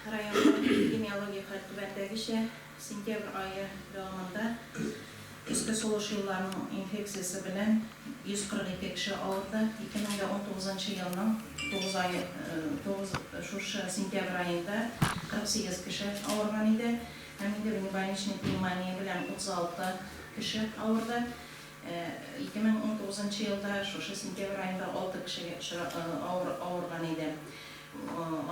Районның эпидемиологик хәл түбәндәгечә, сентябрь ае дәвамында өске сулыш юлларының инфекциясе белән 142 кеше авырды, 2019 елның тугыз ае, тугыз, шушы сентябрь аенда 48 кеше авырган иде һәм инде внебольничный пневмония белән 36 кеше авырды, 2019 елда шушы сентябрь аенда алты кеше авырган иде.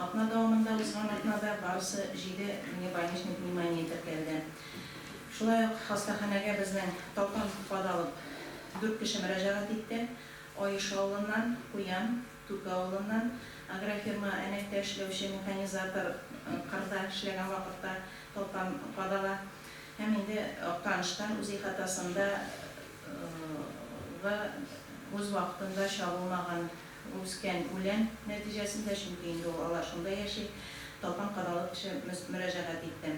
Атна дәвамында узган атнада барысы җиде внебольничный пневмония теркәлде. Шулай ук хастаханәгә безнең Татан кад алып дүрт кеше мөрәҗәгать итте. Аеш авылыннан, Куян, Түке авылыннан, агрофирма Әнәктә эшләүче механизатор кырда эшләгән вакытта Татан кад ала һәм инде Актаныштан үз ихатасында гы үз вакытында чагылмаган Үскән үлән нәтиҗәсендә, чөнки инде ул алар шунда яши, Талпан кадалып эше мөрәҗәгать итте.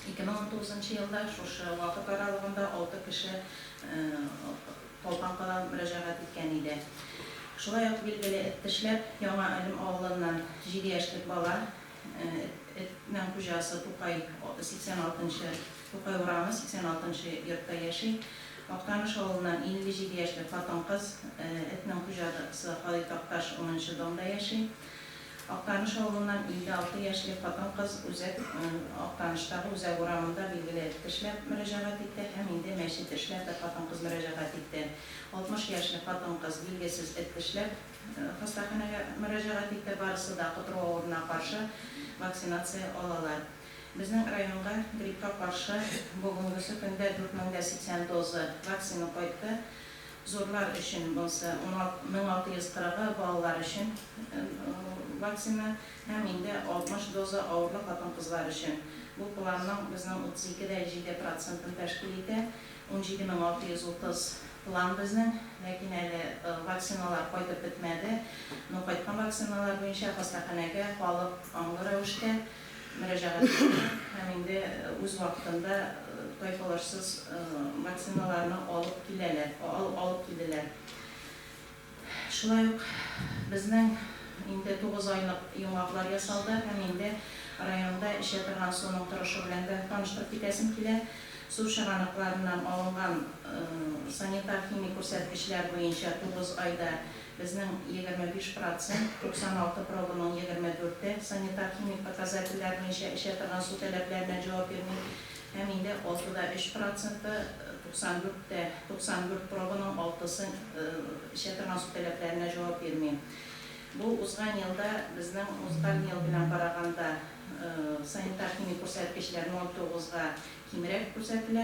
2019 нчы елда шушы вакыт аралыгында алты кеше Талпан кадалып мөрәҗәгать иткән иде. Шулай ук билгеле эт тешләп, Яңа Әлем авылыннан җиде яшьлек бала Этнең хуҗасы Тукай, 86 нчы Тукай урамы, 86 нчы йортта яши. Актаныш авылыннан 57 яшьлек хатын-кыз, этнең хуҗасы Халит Такташ, 10 нчы домда яши. Актаныш авылыннан 56 яшьлек хатын-кыз үзәк Актаныштагы Үзәк урамында билгеле эт тешләп мөрәҗәгать итте һәм инде мәчет эшләп бер хатын-кыз мөрәҗәгать итте. 60 яшьлек хатын-кыз билгесез эт тешләп. Хастаханәгә мөрәҗәгать итте, барысы да котыру авыруына каршы вакцинация алалар. Безнең районга гриппка каршы бүгенгесе көндә 4080 доза вакцина кайтты. Зурлар өчен монсы, 1640-ы балалар өчен вакцина һәм инде 60 доза авырлы хатын-кызлар өчен. Бу планның безнең 32 дә 7 процентын тәшкил итә. Унҗиде мең алты йөз утыз план безнең, ләкин әле вакциналар кайтып бетмәде. Ну, кайткан вакциналар буенча хастаханәгә халык аңлы рәвештә мөрәҗәгать итте һәм инде үз вакытында тайпылышсыз вакциналарны алып киләләр, алып килделәр. Шулай ук безнең инде тугыз айлык йомгаклар ясалды һәм инде районда эчә торган суның торышы белән дә таныштырып китәсем килә. Су чыганакларыннан алынган санитар-химик күрсәткечләр буенча тугыз айда безнең егерме биш процент, 96 пробаның егерме дүрте, санитар-химик показательләр буенча эчә торган су таләпләренә җавап бирми. Һәм инде алты да өч проценты, 94 тә 94 пробаның алтысы эчә торган су таләпләренә җавап бирми. Бу узган елда безнең узган ел белән караганда санитар-химик күрсәткечләр 0,9 га кимрәк күрсәтелә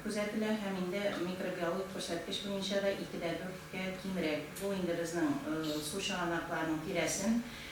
күзәтелә һәм инде микробиологик күрсәткеч буенча да ике дә дүрт кә кимрәк. Бу инде безнең су чыганакларының тирәсен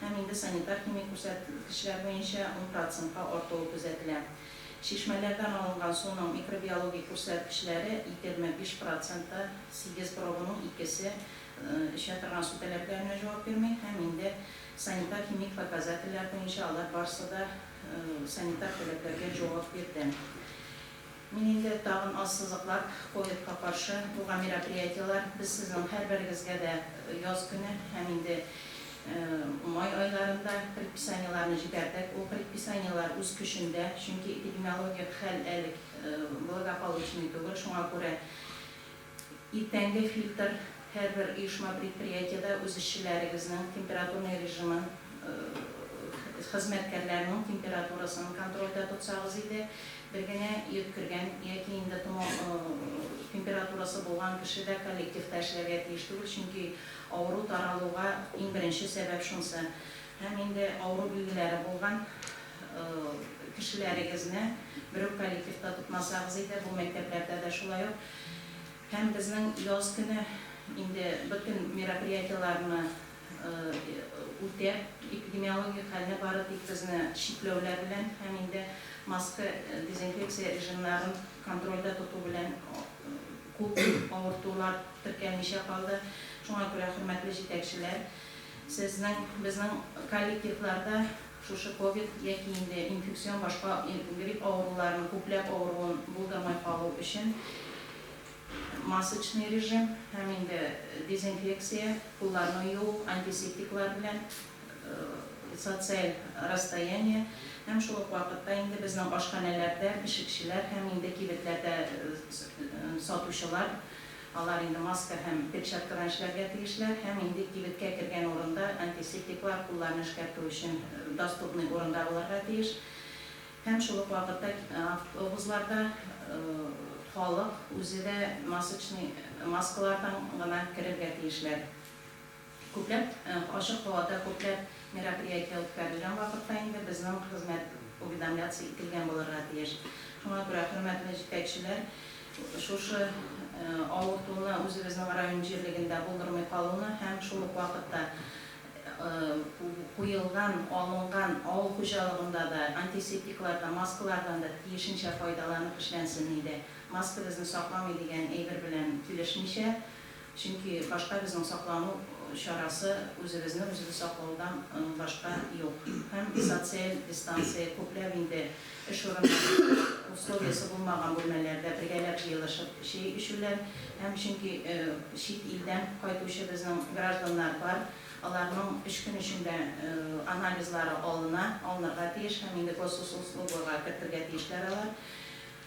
һәм инде санитар-химик күрсәткечләр буенча ун процентка артуы күзәтелә. Чишмәләрдән алынган суның микробиологик күрсәткечләре егерме биш процентта, сигез пробаның икесе эчә торган су таләпләренә җавап бирми һәм инде санитар-химик показательләр буенча алар барысы да санитар таләпләргә җавап бирде. Мин инде тагын ассызыклап, ковидка каршы булган мероприятиеләр, без сезнең һәрберегезгә дә яз көне һәм инде май айларында предписаниеләрне җибәрдек. Ул предписаниеләр үз көчендә, чөнки эпидемиологик хәл әле благополучный түгел, шуңа күрә Иртәнге фильтр һәрбер оешма-предприятиедә үз эшчеләрегезнең температурный режимын, хезмәткәрләрнең температурасын контрольдә тотсагыз иде. Бер генә йөткергән яки инде томау температурасы булган кеше дә коллективта эшләргә тиеш түгел, чөнки авыру таралуга иң беренче сәбәп шунсы. Һәм инде авыру билгеләре булган кешеләрегезне берүк коллективта тотмасагыз иде, бу мәктәпләрдә дә шулай ук. Һәм безнең яз көне инде бөтен мероприятиеләрне үтәп, эпидемиологик хәлне бары тик безне чикләүләр белән һәм инде маска, дезинфекция режимнарын контрольдә тоту белән күп авыртулар теркәлмичә калды. Шуңа күрә, хөрмәтле җитәкчеләр, сезнең, безнең коллективларда Шушы ковид яки инде инфекцион башка грипп авыруларының күпләп авыруын булдырмай калу өчен масочный режим һәм инде дезинфекция, кулларны юу антисептиклар белән, социаль расстояние һәм шул ук вакытта инде безнең ашханәләрдә пешекчеләр һәм инде кибетләрдә сатучылар, Алар инде маска һәм перчаткадан эшләргә тиешләр һәм инде кибеткә кергән урында антисептиклар, кулларны эшкәртү өчен доступный урында булырга тиеш. Һәм шул ук вакытта автобусларда халык үзе дә масочный маскалардан гына керергә тиешләр. Күпләп ачык һавада күпләп мероприятие үткәрелгән вакытта инде безнең хезмәт уведомляться ителгән булырга тиеш. Шуңа күрә, хөрмәтле җитәкчеләр, шушы авыртуны үзебезнең район җирлегендә булдырмый калуны һәм шул ук вакытта куелган, алынган авыл хуҗалыгында да антисептиклардан, маскалардан да тиешенчә файдаланып эшләнсен иде. Маска безне сакламый дигән әйбер белән килешмичә, Чөнки башка безнең саклану чарасы үзебезне үзебез саклаудан башка юк. Һәм социаль дистанция, күпләп инде эш урыннарында условиясе булмаган бүлмәләрдә бергәләп җыелышып чәй эчүләр һәм чөнки чит илдән кайтучы безнең гражданнар бар, аларның өч көн эчендә анализлары алына, алынырга тиеш һәм инде госуслугога кертергә тиешләр алар.